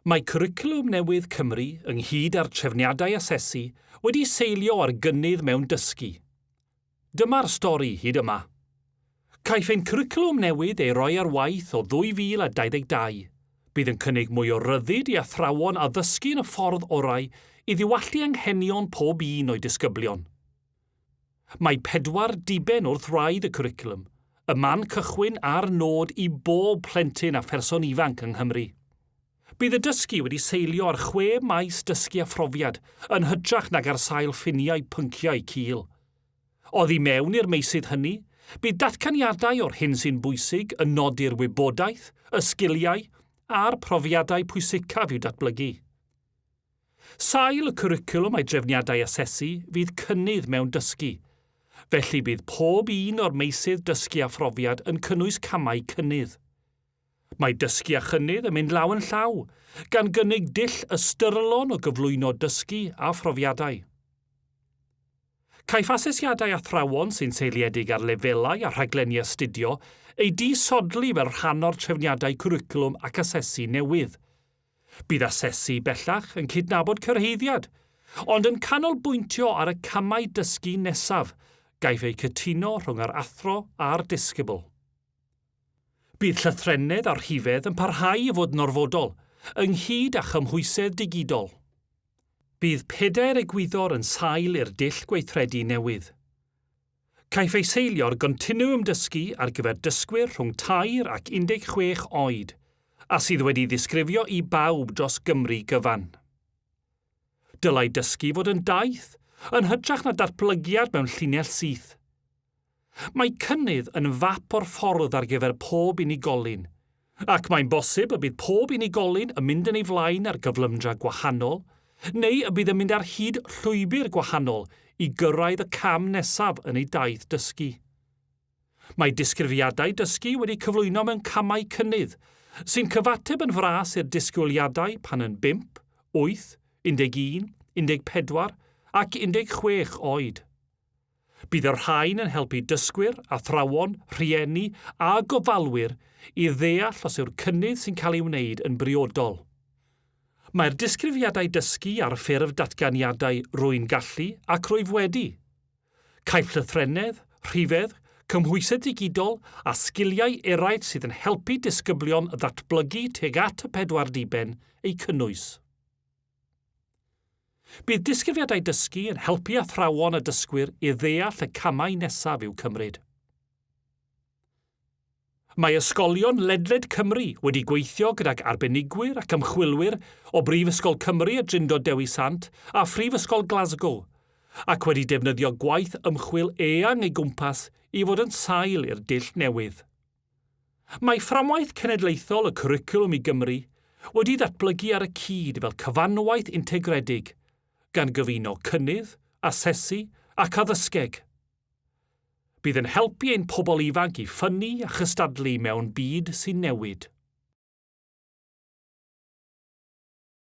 Mae Cwricwlwm Newydd Cymru, ynghyd â'r trefniadau asesu, wedi seilio ar gynnydd mewn dysgu. Dyma'r stori hyd yma. Caiff ein cwricwlwm newydd ei roi ar waith o 2022. Bydd yn cynnig mwy o ryddid i athrawon addysgu yn y ffordd orau i ddiwallu anghenion pob un o'i disgyblion. Mae pedwar diben wrth wraidd y cwricwlwm, y man cychwyn a'r nod i bob plentyn a pherson ifanc yng Nghymru. Bydd y dysgu wedi seilio ar chwe maes dysgu a phrofiad, yn hytrach nag ar sail ffiniau pynciau cul. Oddi mewn i'r meysydd hynny, bydd datganiadau o'r hyn sy'n bwysig yn nodi'r wybodaeth, y sgiliau a'r profiadau pwysicaf i'w datblygu. Sail y cwricwlwm a'i drefniadau asesu fydd cynnydd mewn dysgu. Felly bydd pob un o'r meysydd dysgu a phrofiad yn cynnwys camau cynnydd. Mae dysgu a chynnydd yn mynd law yn llaw, gan gynnig dull ystyrlon o gyflwyno dysgu a phrofiadau. Caiff asesiadau athrawon sy'n seiliedig ar lefelau a rhaglenni astudio eu disodli fel rhan o'r trefniadau cwricwlwm ac asesu newydd. Bydd asesu bellach yn cydnabod cyrhaeddiad, ond yn canolbwyntio ar y camau dysgu nesaf, gaiff eu cytuno rhwng yr athro a'r disgybl. Bydd llythrennedd a rhifedd yn parhau i fod yn orfodol, ynghyd â chymhwysedd digidol. Bydd pedair egwyddor yn sail i'r dull gweithredu newydd. Caiff ei seilio ar gontinwwm dysgu ar gyfer dysgwyr rhwng tair ac 16 oed, a sydd wedi'i ddisgrifio i bawb dros Gymru gyfan. Dylai dysgu fod yn daith, yn hytrach na datblygiad mewn llinell syth. Mae cynnydd yn fap o'r ffordd ar gyfer pob unigolyn, Ac mae'n bosib y bydd pob unigolyn yn mynd yn ei flaen ar gyflymdra gwahanol, neu y bydd yn mynd ar hyd llwybr gwahanol i gyrraedd y cam nesaf yn ei daith dysgu. Mae disgrifiadau dysgu wedi cyflwyno mewn camau cynnydd, sy'n cyfateb yn fras i'r disgwyliadau pan yn bump, wyth, 11, 14 ac 16 oed. Bydd y rhain yn helpu dysgwyr, athrawon, rhieni a gofalwyr i ddeall os yw'r cynnydd sy'n cael ei wneud yn briodol. Mae'r disgrifiadau dysgu ar ffurf datganiadau 'rwy'n gallu' ac 'rwyf wedi'. Caiff llythrennedd, rhifedd, cymhwysedd digidol a sgiliau eraill sydd yn helpu disgyblion ddatblygu tuag at y pedwar diben eu cynnwys. Bydd disgrifiadau dysgu yn helpu athrawon a dysgwyr i ddeall y camau nesaf i'w cymryd. Mae ysgolion ledled Cymru wedi gweithio gydag arbenigwyr ac ymchwilwyr o Brifysgol Cymru a Drindod Dewi Sant a Phrifysgol Glasgow, ac wedi defnyddio gwaith ymchwil eang ei gwmpas i fod yn sail i'r dull newydd. Mae Fframwaith Cenedlaethol y Cwricwlwm i Gymru wedi datblygu ar y cyd fel cyfanwaith integredig, gan gyfuno cynnydd, asesu ac addysgeg. Bydd yn helpu ein pobl ifanc i ffynnu a chystadlu mewn byd sy'n newid.